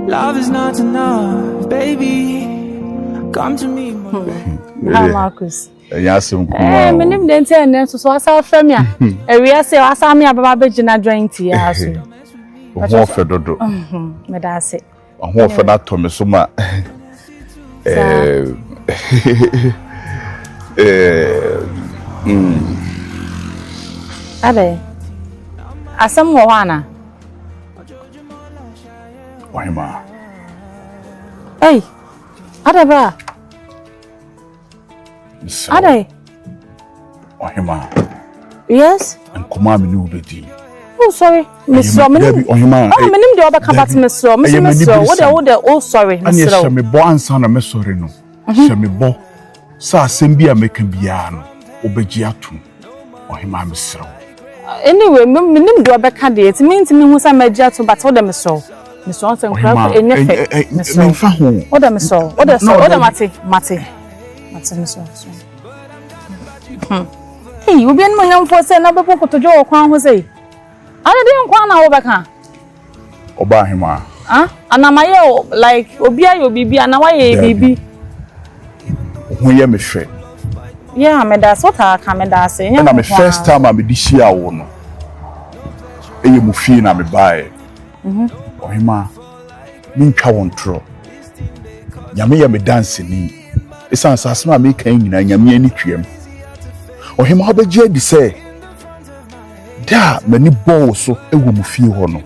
Love is not enough, baby. Come to me, my hmm. ah, Marcus. ɛnyɛ asɛm kumaa o menim deɛ nti a ɛnɛ nso so wasa afrɛ me a awia sɛ wasa me ababa bɛgyina dwan nti yɛ aso ho ɔfɛ dodo meda ase Ahoɔfɛ no atɔ me so ma eh, eh, mm. Adɛ, asɛm wɔ hɔ ana? Ɔhema. Ei, adɛ bra. Mesrɛ. Adai. Ɔhema. Yes. Nkɔmɔ a me ne wo bɛdi. Oh, sorry. Mesrɛ. Menim. Ɔhema. Oh, menim deɛ ɔbɛka but mesrɛ. Mesrɛ mesrɛ. Wo deɛ wo deɛ oh sorry. Mesrɛ. Ɛne hyɛ me bɔ ansa na mesɔre no. Hyɛ me bɔ sɛ asɛm bi a mɛka biara no wobɛgye atom. Ɔhemaa mesrɛ wo. Anyway, menim deɛ ɔbɛka deɛ, nti mentumi hu sɛ magye ato but wodɛ mesrɛ wo. Mesrɛ wo sɛ nkura kɔ ɛnyɛ fɛ. Mesrɛ wo. Memfa ho. Wodɛ mesrɛ wo. Wodɛ sɛ wodɛ mate mate. Mate mesrɛ wo mesrɛ wo. Hmm. Hey, obi anim onyamfoɔ sɛ na bɛbɔ kotodwe wɔ kwan ho sɛ. Ade de nko na wobɛka. Ɔbaa hema. Ah, anama yɛ o like obi ayɛ obi bi ana wayɛ bibi. Ho yɛ me hwɛ. Yeah, me da so ta ka me da se. Na me first time a me di hyia wo no. Eye mu fie na me bae. Mhm. Ɔhema, me ntwa wo ntoro. Nyame yɛ me dance ni. Esan sase ma me kan nyina nyame ani twam. Ɔhema ɔbɛgye adi sɛ Da a m'ani bɔɔ wo so wɔ mo fie hɔ no,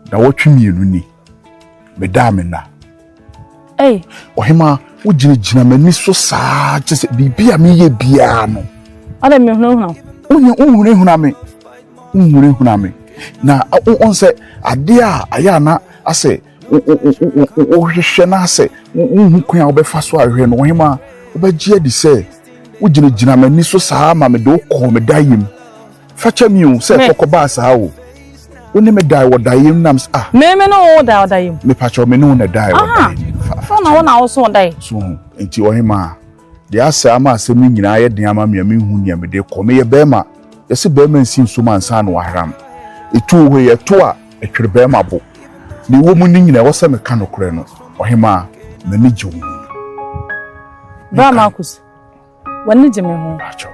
nnawɔtwe mmienu ni, medaa me nna. Ei, ɔhemaa, wogyinagyina m'ani so saa kyɛ sɛ biribi a meyɛ biara no. Ɔde mehunahuna wo. Wonya wohunahuna me, wohunahuna me. Na ɔn sɛ adeɛ a ayɛ a na asɛ wohwehwɛ no asɛ wohu kwan a wobɛfa so ahwɛ no ɔhemaa wobɛgye adi sɛ wogyinagyina m'ani so saa ma mede wo kɔɔ me dayem fakyɛ mi o sɛ kɔkɔbaa saa o wo ne me dae wɔ dayem nam ah me me ne wo dae wɔ dayem mepakyɛ me ne wo na dae wɔ dayem fa fa na wo na wo so dae so ho nti ɔhemaa Deɛ asɛ ama asɛm no nyinaa ayɛ den ama me a menhu nea mede rekɔ. Meyɛ barima. Yɛse barima nsi nsuom ansa na wahram. Etu wɔ hɔ yi, ɛto a, ɛtwere barima bo. Nea ɛwɔ mu ne nyinaa, ɛwɔ sɛ meka nokorɛ no. Ɔhemaa, m'ani gye wo ho. Bra Marcus, w'ani gye me ho? Pakyɛw.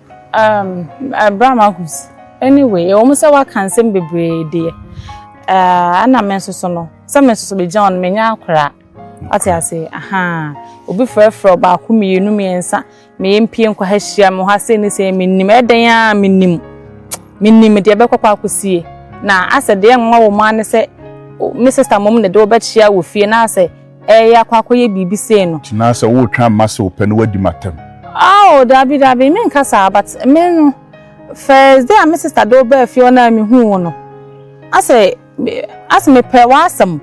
Um, Abraham eh, Ahus. Anyway, ɛwɔ mu sɛ waka nsɛm bebree deɛ. Eh, ɛna me nso so no, sɛ me nso so bɛgyina ɔno menya akora. Ate ase, aha. Obi frɛfrɛ ɔbaako mmienu mmiɛnsa, meyɛ mpie nkwa ha hyia me hɔ asɛ ne sɛ menim. Ɛdɛn a menim. Menim deɛ ɛbɛkɔ kɔ akɔsie. Na asɛ deɛ nwa wɔ mu ane sɛ me sista mmom na de wɔbɛkyia wɔ fie na asɛ Ɛyɛ akɔ akɔyɛ biribi sei no. Tena sɛ woretwɛn ama sɛ wopɛ na woadi m'atɛm. Ao dabi dabi menka saa but me no first day a me sister de wo baa fie hɔ no a mehuu wo no asɛ asɛ mepɛ w'asɛm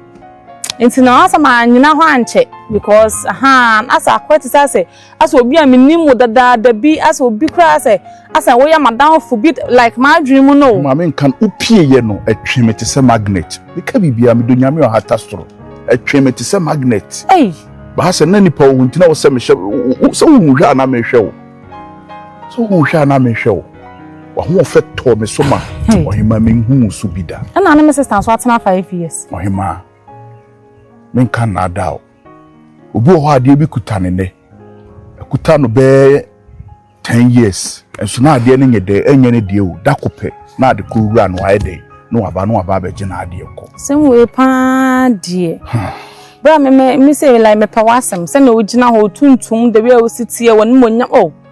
nti na asɛ manyina hɔ ankyɛ because ahaa asɛ akɔyɛ te sɛ asɛ. Asɛ obi a minim wo dadaada bi, asɛ obi koraa sɛ, asɛ woyɛ m'adamfo bi, like m'adwene mu no o. Maame nka no wopieyɛ no ɛtwe me tesɛ magnet meka biribiara medɔ nyame ɔhata soro ɛtwe me tesɛ magnet ei baa sɛ na nipa wo nti na wosɛ mehyɛ wo sɛ wohu hwɛ a na mehwɛ wo sɛ wohu hwɛ a na mehwɛ wo wahoɔfɛ tɔɔ me so ma ɔhema menhu wo so bi da ɛna ne me sista nso atena five years ɔhema menka nnaadaa o obi wɔ hɔ adeɛ bi kuta ne nɛ ɛkuta no bɛɛ ten years nso na adeɛ no nyɛ dɛ ɛnyɛ ne deɛ o da ko pɛ na ade kɔ wura no ayɛ dɛ na waba na waba abɛgye na adeɛ kɔ. sɛm wei paa deɛ bere a me me sɛ like mepɛ w'asɛm sɛnea wogyina hɔ tuntum the way a wosi teɛ wɔn mu onyam o. Oh.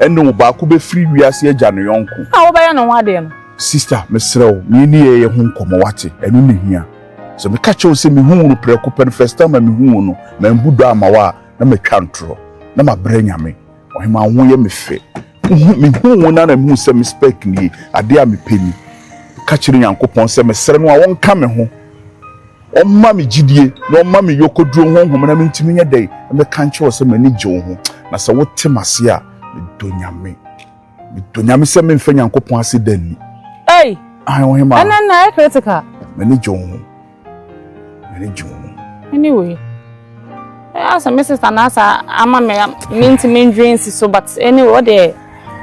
Ɛnne o, baako bɛfiri wiase agya ne yɔnko. A wobɛyɛ ne ho adeɛ no. Sista, mesrɛ wo, me ne yɛ yɛ ho nkɔmmɔ, woate? Ɛno na ɛhia. Sɛ meka kyerɛ wo sɛ mehuu wo no prɛko pɛ no, first time a mehuu wo no, mambu dɔ amma wo a, na matwa ntorɔ. Na mabrɛ Nyame. Ɔhemaa, wo ho yɛ me fɛ. Wohu, mehuu wo no ara na mehuu sɛ me spec nie. Adeɛ a mepɛ ni. Ka kyerɛ Nyankopɔn sɛ mesrɛ no a ɔnka me ho. Ɔmma me gyidie na ɔmma me yɔkɔduro honhom na mentumi nyɛ dɛn mmɛka nkyerɛ wo sɛ m'ani gye wo ho. Na sɛ wote m'aseɛ a, medɔ Nyame. Medɔ Nyame sɛ memfa Nyankopɔn ase da nni. Ei! Ae Ohemaa. Ɛnɛ na ayɛ critical. M'ani gye wo ho. M'ani gye wo ho. Anyway, ɛyɛ sɛ me sister na asa ama me mentumi ndwen si so but anyway, wo deɛ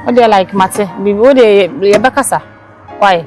wo deɛ like mate biribi wo deɛ yɛbɛkasa. Why?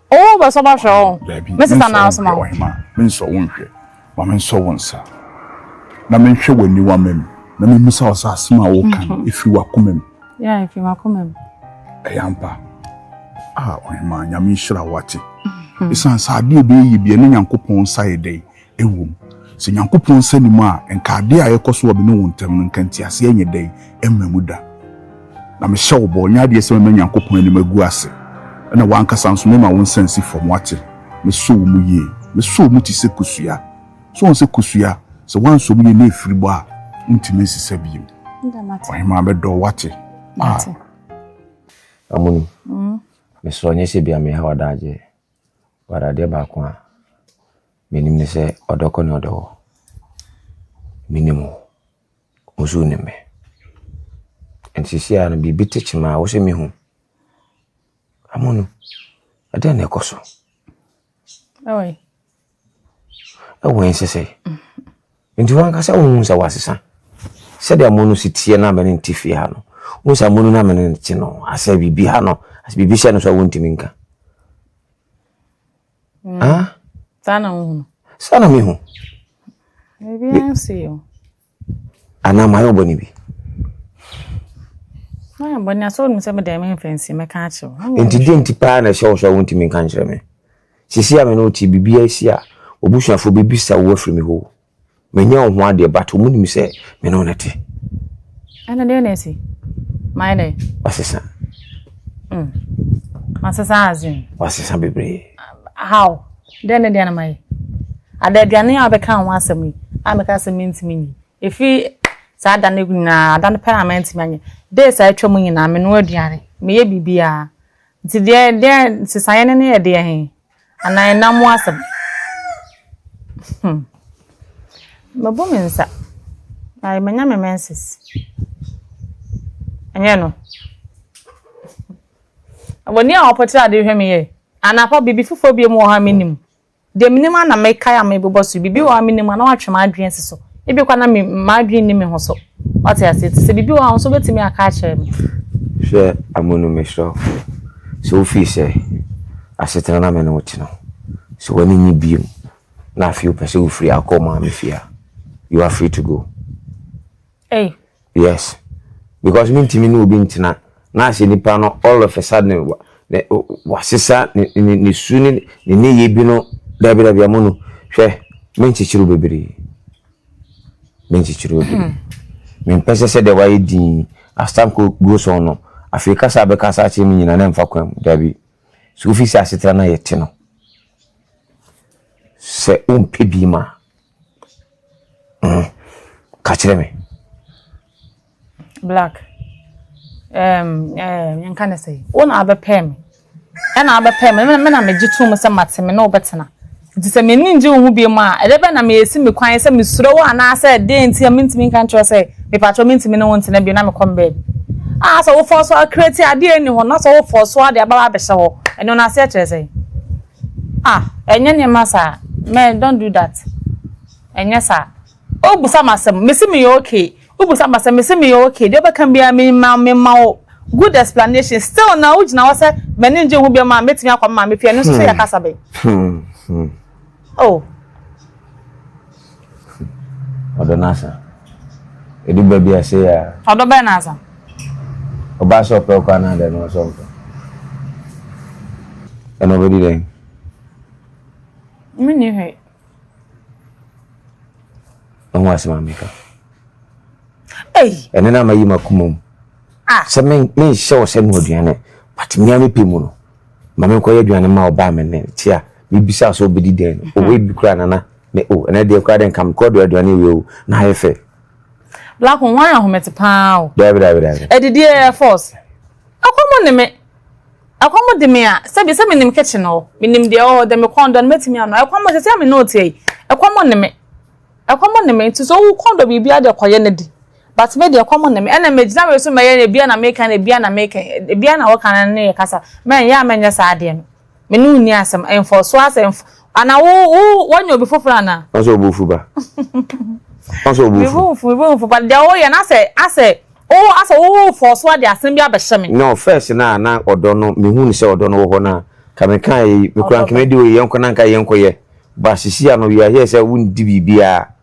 Owó bɛ sọ bá hwẹ ọ. Daabi, me nsɔ wo nhwɛ, ɔhema, me nsɔ wo nhwɛ. Ma me nsɔ wo nsa, na me nhwɛ w'aniwamma mu, na me mmisa wo sɛ asem a woreka no, efiri w'akoma mu. Yeah, efiri m'akoma mu. Ɛyɛ ampa. Ah, ɔhema, Nyame nhyira wo, wate? Esiane sɛ adeɛ a obɛyɛ yɛ biara, na Nyankopɔn nsa yɛ dɛn? Ɛwom, sɛ Nyankopɔn nsa nni mu a, nka adeɛ a ɛrekɔ so wɔ me ne wo ntam no, nka nteaseɛ nyɛ dɛn mma mu da. Na mehyɛ wo bɔ, nyɛ adeɛ sɛ mɛma Nyankopɔn anim agu ase, ɛna w'ankasa nso mɛma wo nsa asi fam, woate? Mɛsɔ wo mu yie. Mɛsɔ wo mu te sɛ kosua. So woahu sɛ kosua, sɛ woansɔ mu yie na ɛfiri bɔ a, wontumi nsesa bio. Ɔhemaa mɛdɔ wo, woate? Ah! Amoni, mesrɛ wo, nyɛ sɛ bia meha w'adagyeɛ. But adeɛ baako a menim ne sɛ ɔdɔ kɔ ne ɔdɔ wɔ. Menim wo, wo nso wonim me. Nti seesei ara no biribi te kyema a wo sɛ mehu. Amonom, ɛdeɛn na ɛkɔ so? Oi, ɛwɔ nsesɛ nti wankasa wohu sɛ wasesa sɛdeɛ mo no si teɛ no amene nte fie ha no wohu sɛ mo no no amene nte no asɛ biribi ha no asɛ biribi hyɛ no so a wontumi nka mm. ah? saa na wohu saa na mehu biribiara nsi yɛ anaa mayɛ ɔbɔne bi mayɛ bɔne asɛ wonim sɛ medɛ memfa nsi mɛka akyerɛ wo nti deɛ nti paa na ɛhyɛ wo sɛ wontumi nka nkyerɛ me sisi a me ne wote biribiaa si a obusuafoɔ bɛbisa wo afiri me hɔ manyɛ wo ho adeɛ but ɔmu nim sɛ me ne wo ne te ɛne deɛ na asi mayɛ dɛ wasesa mm. wasesa asen wasesa bebree how Dɛn ne deɛ na mayɛ? Ada aduane a wobɛka ho asɛm yi a meka sɛ mentumi nyi. Ɛfiri saa da no nyinaa, ada no pɛ a mantumi anyɛ. Days a atwa mu nyinaa, menoa aduane, meyɛ biribiara. Nti deɛ deɛ nsesaeɛ no ne yɛ deɛ he? Anaa ɛnam mu asɛm? Hmm. Mabu me nsa. Ayi, manya me menses. Ɛnyɛ no. Wɔn a wɔpɔtee ade hwɛ me yɛ. Anapa, biribi foforɔ bio wɔ hɔ a mennim. Deɛ menim ara na mekae a mebobɔ so yi. Biribi wɔ hɔ a mennim a na wɔatwe m'adwene asi so. Ebia koraa na me, m'adwene nni me ho so. Woate aseɛ? Nti sɛ biribi wɔ hɔ a, wo nso wobɛtumi aka akyerɛ me. Hwɛ Amonu mesrɛ wo, sɛ wofii sɛ asetena na me ne wo te no, sɛ w'ani nye biom na afei wopɛ sɛ wofiri akɔ wo maame fie a, you are free to go. Ei. Yes. Because me ntumi ne obi ntena. Na asɛ nipa no all of a sudden wa ne wa sesa ne ne ne su ne ne ne yɛ bi no dabi dabi amu no hwɛ me nkyekyere bebree. Me nkyekyere bebree. Hmm. Me mpɛ sɛ sɛ deɛ wayɛ din as time goes on no afei kasa bɛka asa akyerɛ me nyina na mfa kwan mu dabi. So ofi sɛ asetena na yɛte no sɛ wompɛ bi ma Mm, ka kyerɛ me. Black, um, um, yɛnka ne sɛ, wo na abɛpɛɛ me. Ɛna abɛpɛɛ me, me na megye tom sɛ mate me ne wobɛtena. Nti sɛ m'ani ngye wo ho biom a, ɛdɛ bɛ na meyɛsi me kwan sɛ mesuro wo anaasɛ dɛn nti a mentumi nka nkyerɛ sɛ mepatrɔ mentumi ne wo ntena bio na mekɔ me baabi. Ah, sɛ wofɔɔ so akreti adeɛ ni hɔ na sɛ wofɔɔ so ade ababa abɛhyɛ hɔ, ɛno no aseɛ kyerɛ sɛ. Ah ɛnyɛ nneɛma saa mɛn don't do that ɛnyɛ saa o busa ma asɛm mesi me yɛ okay o busa ma asɛm mesi me yɛ okay deɛ ɔbɛka biara me ma me ma o good explanation still na o gyina hɔ sɛ mɛni ngye ho bi ma mɛtumi akɔ ma me pia ɛno nso sɛ yɛ kasa bɛn oh. Ɔdɔ no asa. Edu baabi a sei ara. Ɔdɔ bɛn na asa? Ɔbaa sɛ ɔpɛ wo koraa anaadɛ na ɔsɛ ɔmpɛ. Ɛna ɔbɛdi dɛn? Menni hwee. Ɛho asɛm a meka. Ei! Ɛne na mayi m'akoma mu. Ah! Sɛ menhyɛ wo sɛ noaduane, but mea mepɛ mu no. Ma me nkɔyɛ aduane ma ɔbaa me nnɛ. Nti a mebisaa sɛ ɔbɛdi dɛn no, oh, ebi koraa Nana, me oh, ɛnnɛ deɛ koraa dɛ nka mekɔ dɔ aduane awie oh, na ayɛ fɛ. Black oh, woayɛ ahomete paa oh. Daabi, daabi, daabi. Adidie yɛ force. Ɛkɔm ne me. Ɛkɔm de me a, sɛbi sɛ menim kitchen hɔ, menim deɛ ɛwɔ hɔ, dɛ mekɔn dɔ no mɛtumi ano. Ɛkɔm sɛ sɛ a me ne wo teɛ yi, ɛkɔm ne me. Ɛkɔm ne me, nti sɛ wokɔn dɔ biribi a deɛ kɔyɛ na di. But me deɛ kɔm ne me ɛna megyina wei so mɛyɛ ebia na meka na ebia na meka ebia na woka na ne yɛ kasa mɛnyɛ a mɛnyɛ saa adeɛ no me ne wo nni asɛm mfɔsoɔ asɛ mf ana wo wo woanya obi foforɔ ana. Ɔsɛ obu fu ba. Ɔsɛ obu fu. Me bu nfu me bu nfu but deɛ woyɛ na sɛ asɛ wo asɛ wo wo fɔsoɔ ade asɛm bi abɛhyɛ me. No first no a na ɔdɔ no mehu no sɛ ɔdɔ no wɔ hɔ no a ka meka yɛ yi mekura nka mɛdi wei yɛnkɔ na nka yɛnkɔ yɛ but sisi ano you are here sɛ wondi biribiara.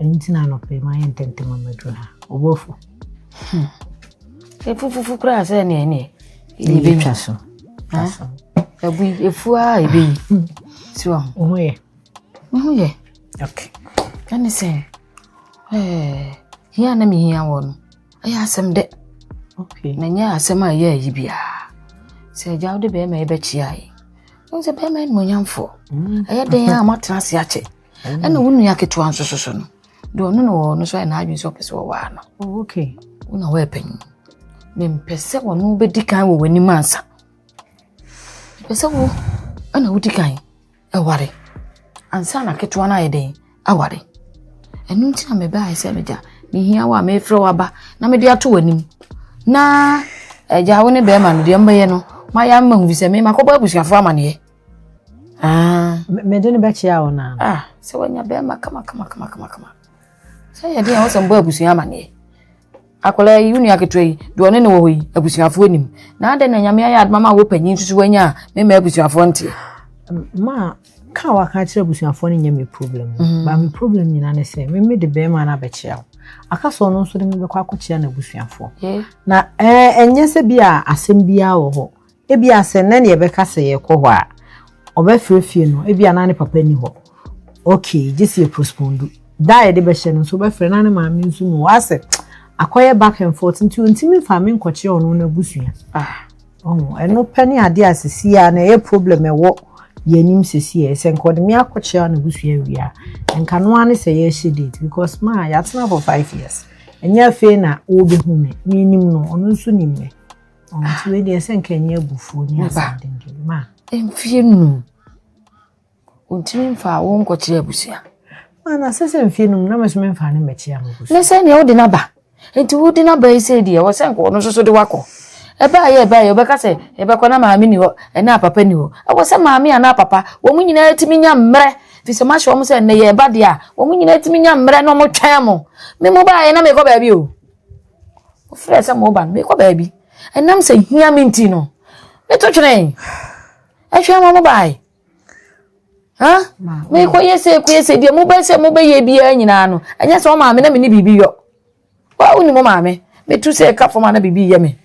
Ɛno nti na anɔpa yi mayɛ ntɛntɛm a maduru ha. Ɔbɔ afu. Hmm. Efufufu koraa sɛ ɛne ɛne. Ebi twa so. Twa so. Ebu efu a ebi yi. Hmm. Si wɔ ho. Wo yɛ. Me ho yɛ. Okay. Ɛne sɛ ɛɛ hia na me hia wɔ no. Ɛyɛ asɛm dɛ. Okay. Na nyɛ asɛm a ɛyɛ ayi biara. Sɛ agya wode bɛrima yi bɛkyia yi. Wo sɛ bɛrima yi mmonyamfoɔ. Hmm. Ɛyɛ den a moatena ase akyɛ. ɛna wo nua ketewa nso soso no deɛ ɔno na wɔwɔ no so ayɛ n'adwene sɛ ɔpɛ sɛ wɔwaa no oh, okay wo na wɔyɛ panyin mempɛ sɛ wɔno bɛdi kan wɔ w'anim ansa pɛ sɛ wo ɛna wodi kan ɛware ansa na ketewa no ayɛ dɛn aware ɛno nti na mebɛaɛ sɛ megya mehia wo a mefrɛ wo aba na mede ato w'anim na agya wo ne bɛrima no deɛ mbɛyɛ no mayɛ ama hu sɛ memakɔbɔ abusuafoɔ amaneɛ Ah. Mede no bɛkyea wo naa. Ah, sɛ wanya bɛrima kama kama kama kama kama. Sɛ yɛ den a wosɛ mbɔ abusua amaneɛ. Akwadaa yi, wo nua ketewa yi, deɛ ɔne ne wɔ hɔ yi, abusuafoɔ anim. Na adɛn na nyame ayɛ adoma ma wɔ panyin nso so wanya a, mema abusuafoɔ nteɛ. Ma ka waka kyerɛ abusuafoɔ no nyɛ me problem. Mm. Ba me problem nyinaa ne sɛ, me mede bɛrima no abɛkyea wo. Aka sɛ ɔno nso de mebɛkɔ akɔkyea n'abusuafoɔ. Na ɛnyɛ sɛ bi a asɛm biara wɔ hɔ. Ebia sɛ nnɛ na yɛbɛka sɛ yɛrekɔ hɔ a, ɔbɛfrɛ fie no, ebia na ne papa nni hɔ. Okay, gye sɛ yɛpospondu. Da a yɛde bɛhyɛ no nso, ɔbɛfrɛ na ne maame nso nni hɔ. Asɛ akɔyɛ back and forth nti ɔntumi mfa me nkɔkyerɛ ɔno n'abusua. Ah, ɔho, ɛno pɛ ne adeɛ a sisi a na ɛyɛ problem ɛwɔ yɛn anim sisi a. Sɛ nka ɔde me akɔkyerɛ n'abusua awie a, nka no ara ne sɛ yɛrehyɛ date because ma yɛatena for five years. Ɛnyɛ afei na wɔbɛhu me, menim no, ɔno nso nim me. nti wei deɛ sɛ nka ɛnyɛ abufuo ne asɛdendwe ma mfie num ɔntumi mfa wo nkɔkyerɛ abusua mana sɛ sɛ mfie num na mɛso memfa ne mmɛkyea mo abusua ne sɛ neɛ wode no aba nti wode no aba yi sɛ deɛ wɔ sɛ nka ɔno nso so de wakɔ ɛbaayɛ ɛbaayɛ wobɛka sɛ ɛbɛkɔ na maame ni hɔ ɛna apapa ni hɔ ɛwɔ sɛ maame anaa papa wɔn nyinaa tumi nya mmerɛ fi sɛ mahyɛ wɔn sɛ nnɛ yɛ ɛba deɛ a wɔn nyinaa tumi nya mmerɛ na wɔn twɛn mo me mo baayɛ na mekɔ baabi o Ɔfrɛɛ sɛ meba no, merekɔ baabi. Ɛnam sɛ hia me nti no, meto twenee. Ɛhwɛ ma mobae. Ha? Mekɔyɛ sɛ kɔyɛ sɛ deɛ mobɛ sɛ mobɛyɛ biara nyinaa no, ɛnyɛ sɛ ɔmaame na mene biribi yɔ. Wa wonim ɔmaame? Metu sɛ ɛka fam a na biribi yɛ me.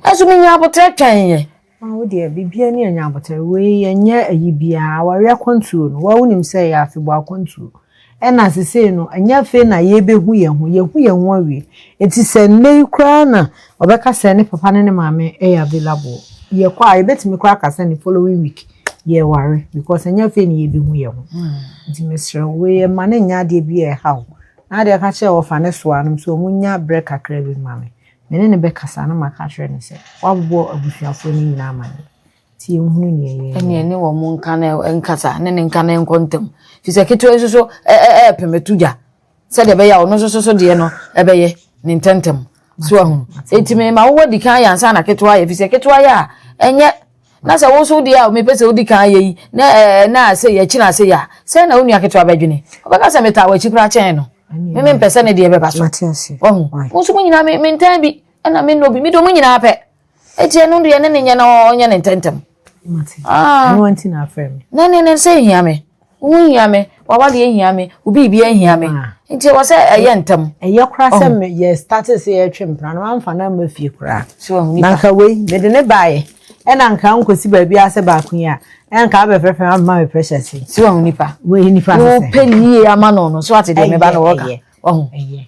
Ɛso menya abotrɛ twɛn yɛ. Ah wo deɛ biribiara ni ɛnyɛ abotare wei ɛnyɛ ayi biara awareɛ akwantuo no wa wonim sɛ ɛyɛ afebɔɔ akwantuo ɛna sesei no ɛnyɛ afei na yɛbɛhu yɛn ho yɛhu yɛn ho awie ɛti sɛ nnɛ yi koraa na ɔbɛka sɛ ne papa ne ne maame ɛyɛ available yɛkɔ a yɛbɛtumi koraa ka sɛ ne following week yɛware because ɛnyɛ afei na yɛbɛhu yɛn ho hmm. nti mesrɛ wei ɛma ne nyɛ adeɛ bi a ɛha o na adeɛ ka kyerɛ wɔfa ne soa nom sɛ ɔmu nya berɛ kakra bi ma me Me ne no bɛkasa na maka akyerɛ no sɛ, Woabobɔ abusuafoɔ no nyinaa amaneɛ. Nti yɛnhunu neɛ yɛnyɛ. Ɛneɛ ne wɔn nka na nkasa, ne ne nka na ɛnkɔ ntɛm. Firi sɛ ketewa nso so ɛɛpem ɛto gya, sɛdeɛ ɛbɛyɛ a ɔno nso so so deɛ no ɛbɛyɛ ne ntɛntɛm. So ahunu? Enti mema wo wadi kan yɛ ansa na ketewa ayɛ, firi sɛ ketewa yɛ a ɛnyɛ na sɛ wo nso wo deɛ a mepɛ sɛ wodi kan yɛ yi na ɛɛ na sɛ yɛakyi na sɛ yɛ a sɛ na wo nua ketewa bɛdwene ɔbɛka sɛ metaa w'akyi koraa kyɛn no me mempɛ sɛ ne deɛ bɛba so wahu mo nso mo nyinaa mentaa bi ɛna me nnɔ bi medɔ mo nyinaa pɛ ɛti ɛno deɛ ne ne nyɛ na ɔnyɛ ne ntɛntɛm ah. na ne ne sɛ hia me Wo ho hia me, w'awadeɛ hia me, wo biribiara hia me. Ah. Nti ɛwɔ sɛ ɛyɛ ntɛm. Ɛyɛ koraa sɛ oh. yɛ starte sɛ yɛtwe mpena no wamfa no amma fie koraa. Na nka wei mede ne baeɛ ɛna nka nkɔsi baabi a sɛ baako yi a ɛnka abɛfɛfɛ ama me pressure si. Si wɔn nipa. Wɔyɛ nipa sɛ. Wopɛ nie ama no no so ate deɛ meba no wɔka. Wɔn.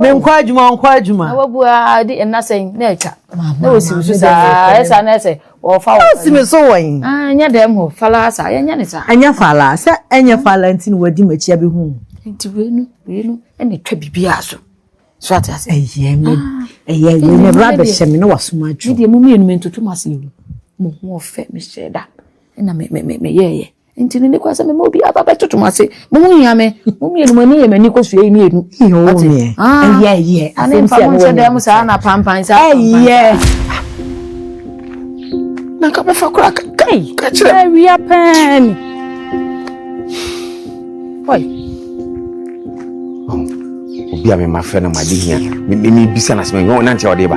menkɔ adwuma ɔnkɔ adwuma na wabu a de nna sɛn na atwa na wɔsi me so saa ɛsa na ɛsɛ wɔfa wɔ wɔsi me so wɔn ɛnyɛ dɛm hɔ fala sa yɛnyɛ ne sa ɛnyɛ fala sɛ ɛnyɛ fala nti na wadi m'akyi abɛhu nti wei no wei no ɛna twa biribiara so so ate ase ɛyɛ me ɛyɛ ɛyɛ me bra bɛhyɛ me na wasoma adwo deɛ mo mmienu me ntoto mo ase yi mo ho ɔfɛ mehyɛ da ɛna me me me yɛɛyɛ Nti no, ne kwan sɛ mema obi aba bɛtoto mo ase. Mo ho hia me. Mo mmienu, mo ani yɛ m'ani kɔsua yi mmienu. Ate? Ah, ɛyɛ, ɛyɛ. Ane mfa mo nhyɛ dan mu saa na pampan saa. Ɛyɛ. Na nka bɛfa koraa ka ka kyerɛ. Awia pɛn ni. Oi. Obi a mema frɛ no ma de hia. Mebisa no asɛm, ɛnyɛ ɔnante a ɔde ba.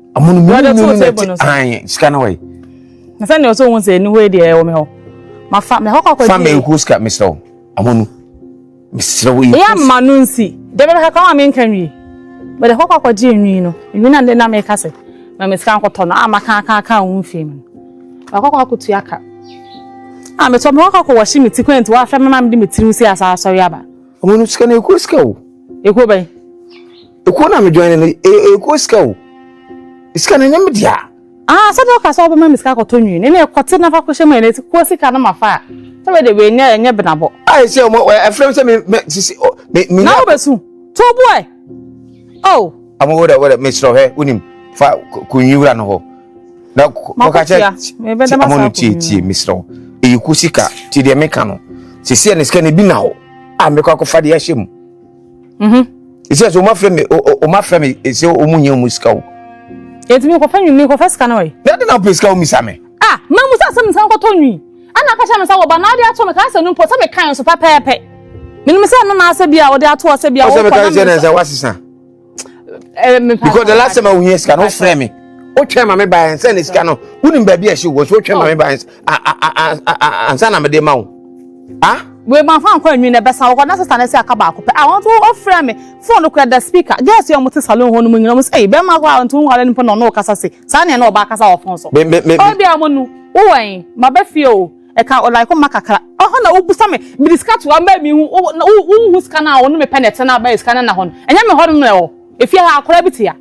amono mu mu no na ti an sika na wai na sɛ ne ɔsɛ ohun sɛ eniwo edi ɛwɔ mi hɔ ma fa mɛ hɔkɔ akɔ di fa mɛ nkuo sika mesrɛ wo amono mesrɛ wo yi eya ma no nsi dɛbɛ bɛ kakra wa mi nka nwi bɛdɛ hɔkɔ akɔ di enwi no enwi na ne na mi ka sɛ mɛ mi sika nkɔtɔ no a ma kan kan kan ohun fi mu mɛ hɔkɔ akɔ tu aka a mɛ tɔ mɛ hɔkɔ akɔ wɔsi mi ti kɔn ti wa fɛ mɛ ma mi di mi tiri si asa asɔre aba. amono sika na ekuo sika o. ekuo bɛyi. Ekuo na mi join no eye ekuo sika o. Sika no enye me dea. Ah sɛdeɛ ɔka sɛ ɔbɛma me sika akɔtɔ nwii no ɛnna kɔte na fa kɔhyɛ mu ɛnna ti kuo sika no ma fa a sɛ wei deɛ wei nyɛ ɛnyɛ benabɔ. Ah ɛsɛ ɔmo ɛfrɛ mi sɛ mi mɛ sisi ɔ mi mi. Na wo bɛ su to bu ɛ oh. Ɔmo wo dɛ wo dɛ mi srɛ hɛ wonim fa kɔ nwi wura no hɔ na kɔka kyɛ ti ɔmo no tie tie mi srɛ eyi kuo sika ti deɛ mi ka no sisi ɛnna sika no ebi na hɔ a mi kɔ akɔfa deɛ ahyɛ mu. mhm ɛsɛ sɛ ɔmafrɛ me ɔmafrɛ me ɛsɛ ɔmu nyɛ ɔmu sika o ɛti mekɔfa nwi mekɔfa sika no ɔyɛ na de na wopɛ sika womisa me ah mamu sɛ asɛm nsa nkɔtɔ nwi ana aka kyerɛ me sɛ wɔba na wode ato me kaa sɛ no mpo sɛ mekae nso pɛpɛɛpɛ menim sɛ no naasɛ bi a wɔde ato ɔsɛ bi a wɔkɔ na mesɛ wasesa because the last time awo yɛ sika no frɛ mi o twɛn ma mi ba yɛn sɛ ne sika no o ni baabi ɛsi wɔ so o twɛn ma mi ba yɛn ansa na mi de ma o ah. wei ma fa nkɔ enwi na ɛbɛsa wɔkɔ na sisan ɛsɛ aka baako pɛ a wɔn to ɔfrɛ mi fone kura da speaker girls yɛ wɔn ti salon hɔ nom nyina wɔn sɛ ɛyi bɛrɛ ma kɔ a wɔn to nwale nipa na ɔno ɔkasa se saa nea na ɔba akasa wɔ fone so. ɔbi a wɔn nu wowɔ yi ma bɛ fie o. Ɛka ɔline hɔ ma kakra. Ɛhɔ na wobisa me, mede sika to hɔ a, mɛma me hu, wo, na wo, wonhu sika no a, wo ne me pɛ na ɛtena bɛyɛ sika no nna hɔ no. Ɛnyɛ me hɔ nom na ɛwɔ. Efie ha, akwadaa bi te ha.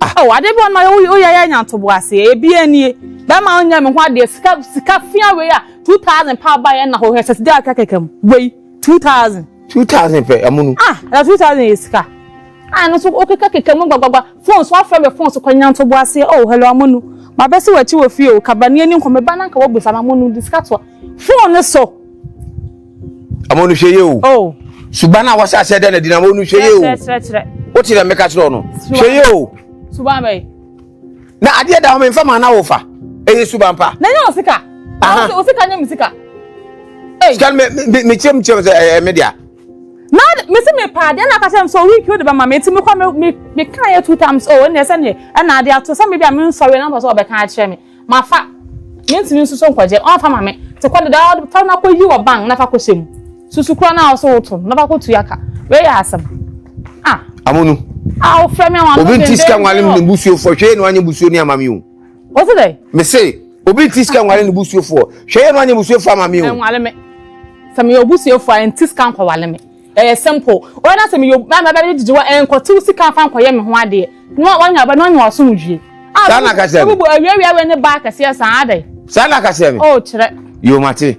Ah, oh, adeɛ bi wɔ nom a, wo, woyɛ yɛ anya ntoboa ase. Ebia nie. Bɛrima a ɔnyɛ me ho adeɛ, sika, sika fea wei a, 2,000 paa baeɛ nna hɔ, hwɛ sɛ sika kɛkɛkɛ mu, wei. two thousand. two thousand pɛ ɛmu no. ah na two thousand yɛ sika. ah no so okeka keka mu gbagbagba phone so afrɛ me phone so kɔ nyanto bo ase oh hello amonu ma bɛ si wɔ akyi wɔ fie o kaba ni ani nkɔmɛ ba na nka wɔ busa ma amonu di sika to phone ne so. amonu hwɛ yie o. oh. suban a wɔsɛ asɛ dɛ na di na amonu hwɛ yie o. kyerɛ kyerɛ kyerɛ. o ti dɛ mɛka kyerɛ o no. hwɛ yie o. suban bɛyi. na adeɛ da hɔ me nfa ma na wofa ɛyɛ suban pa na nyɛ osika osika nyɛ me sika sika no mekyerɛm kyerɛm sɛ ɛyɛ me dea na mesi me paa deɛ na aka kyerɛ m sɛ ɔwiki wode bɛma me ɛti mekɔ meka yɛ two times o oh, ɛneɛ sɛneɛ ɛna ade ato sɛ mebi a mensɔre na mpɛ sɛ ɔbɛka akyerɛ me mafa mentumi nso so nkɔgye ɔmfa ma me te kɔ deda fa no akɔyi wɔ bank na fa kɔhyɛ mu Susu kura na ɔsɛ woto no na ɔbɛkɔ tua ka wei yɛ asɛm ah. Amunu. Ah ofura mi awon. Obi nti sika nwale ne busuo fo hwɛ yɛ no anya busuo ni ama mi o. What's it there? Me say obi nti sika nwale ne busuo fo hwɛ yɛ no anya busuo fo ama mi o. Nwale me. Sɛ me yɛ obusuo fo a nti sika nkɔ wale me. Ɛyɛ simple. Wɔn na sɛ me yɛ obi na bɛbɛ didi wa nkɔ tiw sika fa nkɔ yɛ me ho adeɛ. No wɔn nya ba no nya ɔsom dwie. Ah. Saa na kasɛ. Ebubu awiawia wɛ ne ba kɛseɛ saa adɛ. Saa na kasɛ me. Oh kyerɛ. Yomate.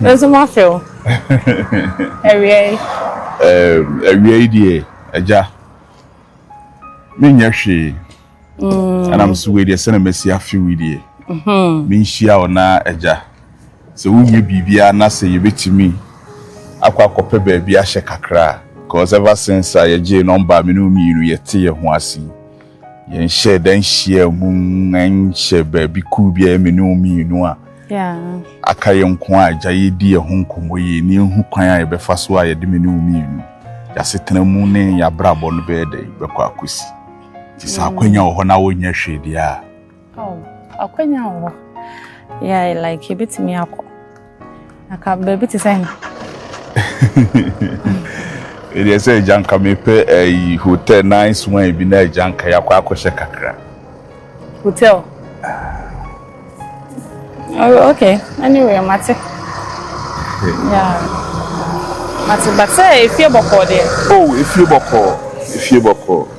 Nso moafe o. Awia yi. Ɛɛm, awia yi deɛ, agya, menyɛ hwee. Mm. Ɛna mso wei deɛ, sɛna masi afe wei deɛ, mm-hmm. menhyia wo na agya. Sɛ wonyɛ biribiara na sɛ yɛbɛtumi akɔ akɔpɛ baabi ahyɛ kakra a, because ever since a yɛgyee nɔmba a me ne wo mmienu yɛte yɛn ho ase yi, yɛnhyɛ da nhyia mu nhyɛ baabi kuw bi a ɛyɛ me ne wo mmienu a aka yɛ nko a agya yɛdi yɛ ho nkɔmmɔ yie ne ɛhu kwan a yɛbɛfa so a yɛde me ne wo mmienu yɛasetena mu ne yɛabrabɔ no bɛyɛ dɛn bɛkɔ akɔsi nti sɛ akwanya wɔ hɔ na wonyɛ hwee deɛ a Oh, akwanya wɔ hɔ. Yeah, like yɛbɛtumi akɔ. Naka baabi te sɛ he? Ɛdeɛ sɛ agya nka mepɛ ayi hotel nice wine bi na agya nka yɛakɔ akɔhyɛ kakra. Hotel? Oh, okay. Anyway, mate. Yeah. Mate, but sɛ efie bɔkɔɔ deɛ. Oh, efie bɔkɔɔ. Efie bɔkɔɔ.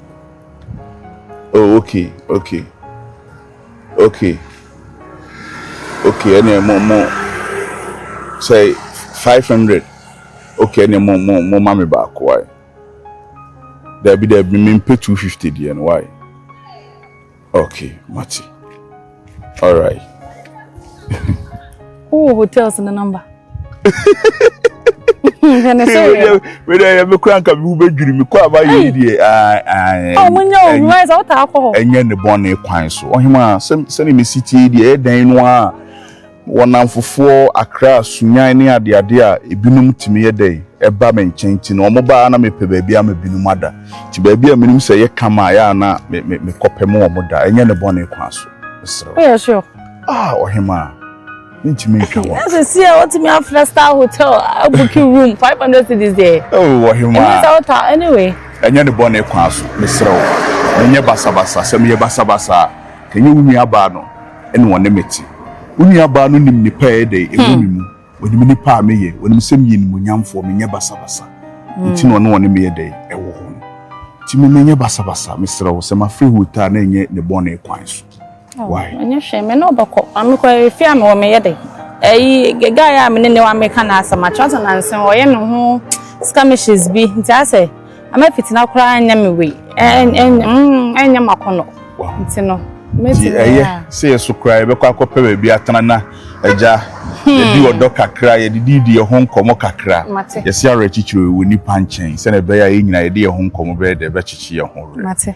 oh okay okay okay okay ɛnna mo mo sɛ five hundred okay ɛnna mo mo mo ma mi baako wae dɛbi dɛbi mi mpɛ two fifty deɛ no wae. Okay, mate. All right. Who hotels in the number? wede yɛ mekora nka mewo bɛdwiri mekɔ a mayɛ deɛ ɛnyɛ ne bɔne kwan so ɔhema sɛne mesi tie deɛ ɛdɛn no a Wɔ nnamfofoɔ, akra, sunyan ne adeade a ebinom tumi yɛ dɛn ba me nkyɛn nti no, wɔba a na mepɛ baabi ama binom ada. Nti baabi a menim sɛ ɛyɛ kama a, ɛyɛ a na mekɔpem wɔn da, ɛnyɛ ne bɔne kwan so. Mesrɛ wo. Woyɛ sure? Ah, ɔhemaa. Mentumi ntwa wɔn. Na sisi a wotumi afrɛ star hotel abuki room five hundred cedis deɛ. Oh, ɔhemaa. Ɛnyɛ sɛ wota anyway. Ɛnyɛ ne bɔne kwan so. Mesrɛ wo. Menyɛ basabasa. Sɛ meyɛ basabasa a, ɛnyɛ wo nuabaa no. ɛna ɔne me te. Wo nuabaa no nim nnepa a ɛyɛ dɛ ɛwɔ me mu, ɔnim nnipa a meyɛ, ɔnim sɛ meyɛ nimuonyamfoɔ, menyɛ basabasa, nti na ɔne ɔne me yɛ dɛ ɛwɔ hɔ no. Nti me menyɛ basabasa, mesrɛ wo, sɛ mafrɛ Ruth a na ɛnyɛ ne bɔne kwan so. Wai. Ɛnyɛ hwee, me ne wo bɛkɔ. Ma me kɔ ɛfie a mewɔ meyɛ dɛ. Ɛyi, guy a me ne ne wɔ a meka no asɛm, akyerɛ sɛ nansen ɔyɛ ne ho skirmishes bi, nti asɛ. ama fitena koraa nyɛ me wei ɛnyɛ makɔnɔ nti no nti ɛyɛ sɛ yɛ so koraa yɛbɛkɔ akɔpɛ baabi atena na agya hmm. yɛdi ɔdɔ kakra yɛdedidi yɛ ho nkɔmmɔ kakra yɛse awerɛkyekyerɛ wɔ nipa nkyɛn sɛne ɛbɛyɛ a yɛ nyina yɛde yɛ ho nkɔmmɔ bɛyɛ dɛ ɛbɛkyekye yɛ ho werɛ